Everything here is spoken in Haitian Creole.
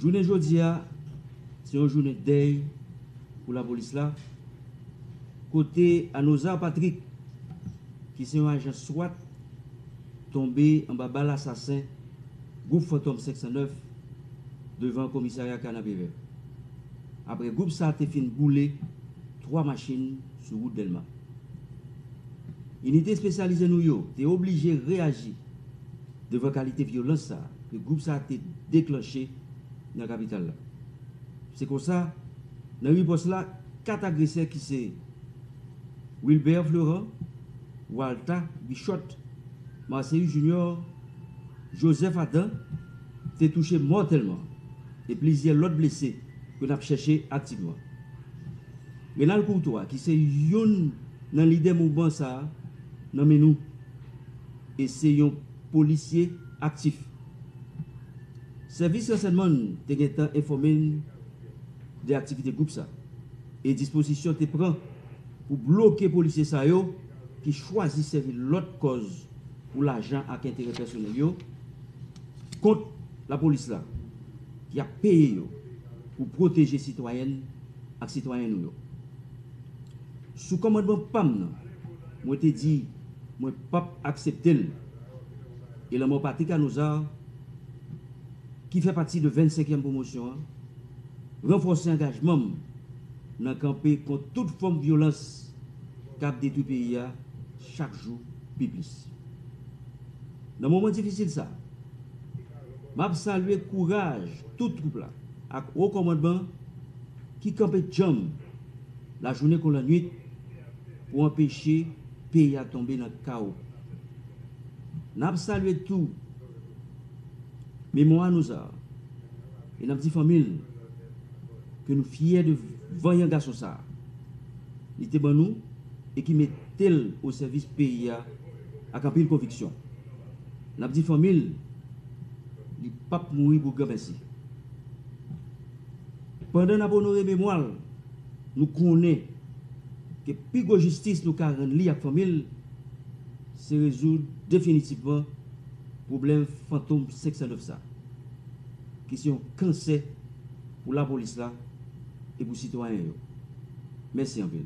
Jounen jodi a, se yon jounen dèy pou lapolis la, kote Anozar Patrick, ki se yon ajan swat, tonbe anba bal asasen gwoup Fantòm 509 devan komisarya Kanapevè, apre gwoup sa te fin boule 3 machin sou wout Dèlma. Inite espesyalize nou yo te oblije reyaji. Devan kalite vyolans sa ke gwoup sa te deklanche nan kapital la. Se konsa, nan ripòs la, 4 agresè ki se, Wilbert Fleurant, Walta Guichot, Marcéus Junior, Joseph Adam, te touche mòtèlman e plizyè lòt blese ke nap chèche aktivman. Renald Courtois ki se youn nan lidè mouvman sa, nan men nou. e se yon polisye aktif. Sèvis ransèyman n te gentan enfòme n de aktivite gwoup sa e dispozisyon te pran pou bloke polisye sa yo ki chwazi sèvi lòt kòz pou lajan ak enterè pèsonèl yo kont lapolis la ki ap peye yo pou pwoteje sitwayèn ak sitwayen nou yo. Sou kòmandman pa m nan, mwen te di. Mwen pap aksepte l. E lanmò Paty Canuzard, ki fè pati de 25 èm pwomosyon an, ranfòse angajman m nan kanpe kont tout fòm vyolans k ap detwi peyi a chak jou pi plis. Nan moman difisil sa, m ap salye kouraj tout twoup la ak Wo Kòmandman ki kanpe djanm lajounen kon lannuit pou anpeche peyi a tonbe nan kawo. N ap salye tou memwa Nouzar e n ap di fanmi l ke nou fyè de vanyan gason sa a li te ban nou e ki mete l o sèvis peyi a ak anpil konviksyon. N ap di fanmi l li p ap mouri pou granmèsi. Pandan n ap onore memwa l. Nou konnen ke pi gwo jistis nou ka rann li ak fanmi l se rezoud definitivman pwoblèm fantom 509 sa ki se yon kansè pou lapolis la e pou sitwayen yo. Mèsi anpil.